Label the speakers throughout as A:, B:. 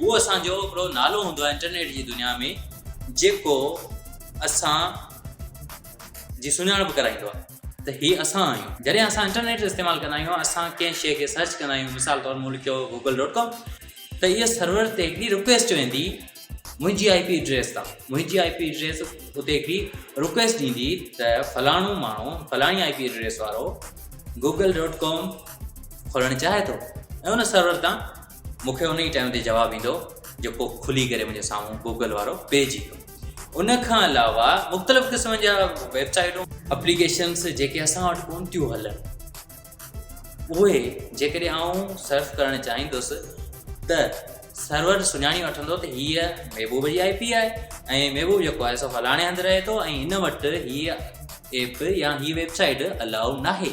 A: هو اسان جو هڪڙو نالو هوندو آهي انٽرنيٽ جي دنيا ۾ جيڪو اسان جي سڃاڻپ ڪرائيندو آهي ته هي اسان آهيون جڏهن اسان انٽرنيٽ استعمال ڪندا آهيون اسان ڪنهن شيء کي سرچ ڪندا آهيون مثال طور مون لکيو گوگل ڊاٽ ڪام ته ايئر سرور تي هڪڙي رڪويسٽ ويندي منهنجي آئي پي ايڊريس تان منهنجي آئي پي ايڊريس اتي هڪڙي رڪويسٽ ڏيندي ته فلاڻو ماڻهو فلاڻي آئي پي ايڊريس وارو گوگل ڈاٹ ڪام کولڻ چاهي ٿو ۽ ان سرور تان مون کي ان ئي ٽائيم تي جواب ايندو جيڪو کلي ڪري منهنجي سامهون گوگل وارو پيج ايندو ان کان علاوه مختلف قسم جا ويب سائيٽون اپليڪيشنس جيڪي اسان وٽ ڪون ٿيون هلن اهي جيڪڏهن آئون سرف ڪرڻ چاهيندس ته سرور سڃاڻي وٺندو ته هيء محبوب جي آئي پي آهي ۽ محبوب جيڪو آهي سو فلاڻي هنڌ رهي ٿو ۽ هن وٽ هيء ايپ يا هيء ويب سائيٽ الاؤ ناهي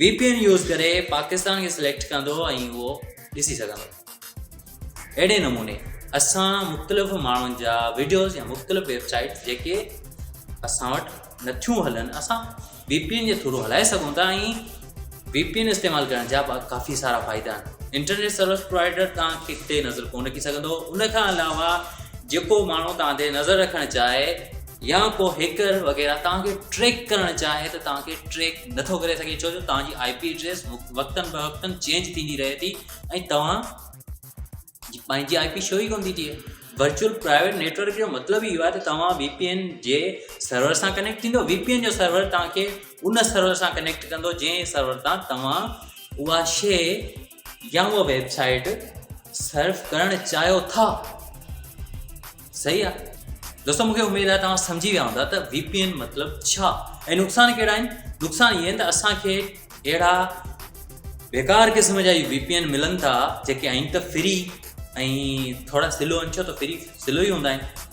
A: وي پي اين يوز ڪري پاڪستان کي سليڪٽ ڪندو ۽ اهو ڏسي سگهندو اهڙي نموني اسان مختلف ماڻهن جا ويڊيوز يا مختلف ويب سائيٽ جيڪي اسان وٽ نٿيون هلن اسان وي پي اين جي ٿرو هلائي سگهون ٿا ۽ وي پي اين استعمال ڪرڻ جا ڪافي سارا فائدا آهن انٽرنيٽ سروس پرووائڊر تان کي نظر ڪون رکي سگهندو ان کان علاوه جيڪو ماڻهو تان تي نظر رکڻ چاهي يا ڪو هيڪر وغيره توهان کي ٽريڪ ڪرڻ چاهي ته توهان کي ٽريڪ نٿو ڪري سگهي ڇو جو توهان جي آئي پي ايڊريس وقتن بوقتن چينج ٿيندي رهي ٿي ۽ توهان جي پنهنجي آئي پي شو ئي ڪون ٿي ٿئي ورچوئل پرائيويٽ نيٽورڪ جو مطلب اهو آهي ته توهان وي پي اين جي سرور سان ڪنيڪٽ ٿيندو وي پي اين جو سرور توهان کي ان سرور سان ڪنيڪٽ ڪندو جنهن سرور تان توهان اها شي يا هوء ويب سائيٽ سرف ڪرڻ چاهيو ٿا صحيح آ دوستو مونکي اميد آ توهان سمجهي ويا هوندا ته وي پي اين مطلب ڇا ۽ نقصان ڪهڙا آهن نقصان اهي آهن ته اسان کي اهڙا بيڪار قسم جا وي پي اين ملن ٿا جيڪي آهن ته فري ۽ ٿورا سلو آهن ڇو ته فري سلو ئي هوندا آهن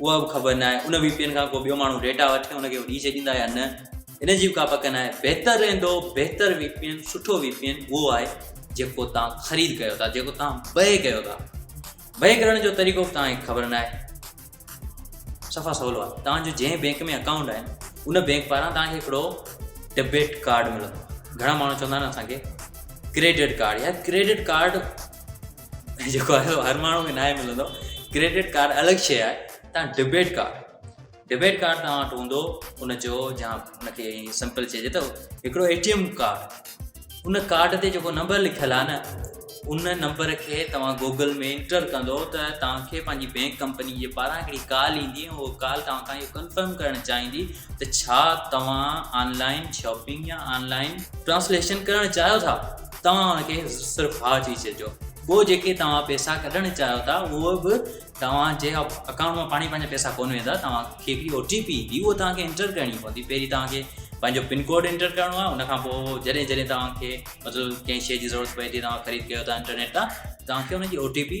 A: اها به خبر ناهي ان وي پي اين کان ڪو ٻيو ماڻهو ڊيٽا وٺي ان کي ڏئي ڇڏيندا يا نه ان جي به ڪا پڪ ناهي بهتر رهندو بهتر وي پي اين سٺو وي پي اين اهو آهي جيڪو تان خريد ڪيو ٿا جيڪو تان بهي ڪيو ٿا بهي ڪرڻ جو طريقو به تان خبر ناهي صفا سولو آهي تان جو جنهن بينڪ ۾ اڪائونٽ آهن ان بينڪ پاران تان کي هڪڙو ڊيبيٽ ڪارڊ ملندو گهڻا ماڻهو چوندا آهن اسان کي ڪريڊٽ ڪارڊ يا ڪريڊٽ ڪارڊ جيڪو آهي هر ماڻهو کي ناهي ملندو ڪريڊٽ ڪارڊ الڳ شيء آهي تان ڊبيٽ ڪارڊ ڊبيٽ ڪارڊ توهان وٽ هوندو ان جو جا ان کي سمپل چئجي ته هڪڙو اي ٽي ايم ڪارڊ ان ڪارڊ تي جيڪو نمبر لکيل آهي نه ان نمبر کي توهان گوگل ۾ انٽر ڪندو ته توهانکي پنهنجي بينڪ ڪمپني جي پاران هڪڙي ڪال ايندي ۽ اهو ڪال توهان کان اهو ڪنفرم ڪرڻ چاهيندي ته ڇا توهان آنلائن شاپنگ يا آنلائن ٽرانسليشن ڪرڻ چاهيو ٿا توهان ان کي صرف ها چئي ڇڏجو ٻيو جيڪي توهان پئسا ڪڍڻ چاهيو ٿا اهو به توهان جي اڪائونٽ مان پاڻي پنهنجا پئسا ڪون ويندا توهان کي هڪڙي او ٽي پي ايندي اهو توهان کي انٽر ڪرڻي پوندي پهرين توهان کي پنهنجو پن ڪوڊ انٽر ڪرڻو آهي ان کان پوء جڏهن جڏهن توهان کي مطلب ڪنهن شيء جي ضرورت پئي ٿي توهان خريد ڪيو ٿا انٽرنيٽ تان توهان کي ان جي او ٽي پي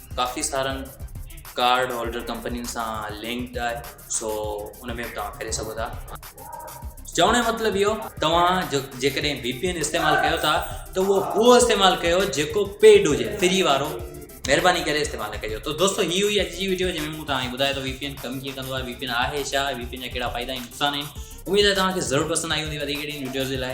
A: ڪافي سارن ڪارڊ هولڊر ڪمپنين سان لنڪڊ آهي سو ان ۾ به توهان ڪري سگهو ٿا چوڻ جو مطلب اهو توهان جو جيڪڏهن وي پي اين استعمال ڪيو ٿا ته اهو اهو استعمال ڪيو جيڪو پيڊ هجي فري وارو مهرباني ڪري استعمال ڪجو تو دوستو هي هئي اڄ جي ويڊيو جنهن ۾ مون توهان ٻڌايو ته وي پي اين ڪم ڪيئن ڪندو آهي وي پي اين آهي ڇا وي پي اين جا ڪهڙا فائدا ۽ نقصان آهن اميد آهي توهان کي ضرور پسند آئي هوندي وڌيڪ اهڙين ويڊيوز جي لاء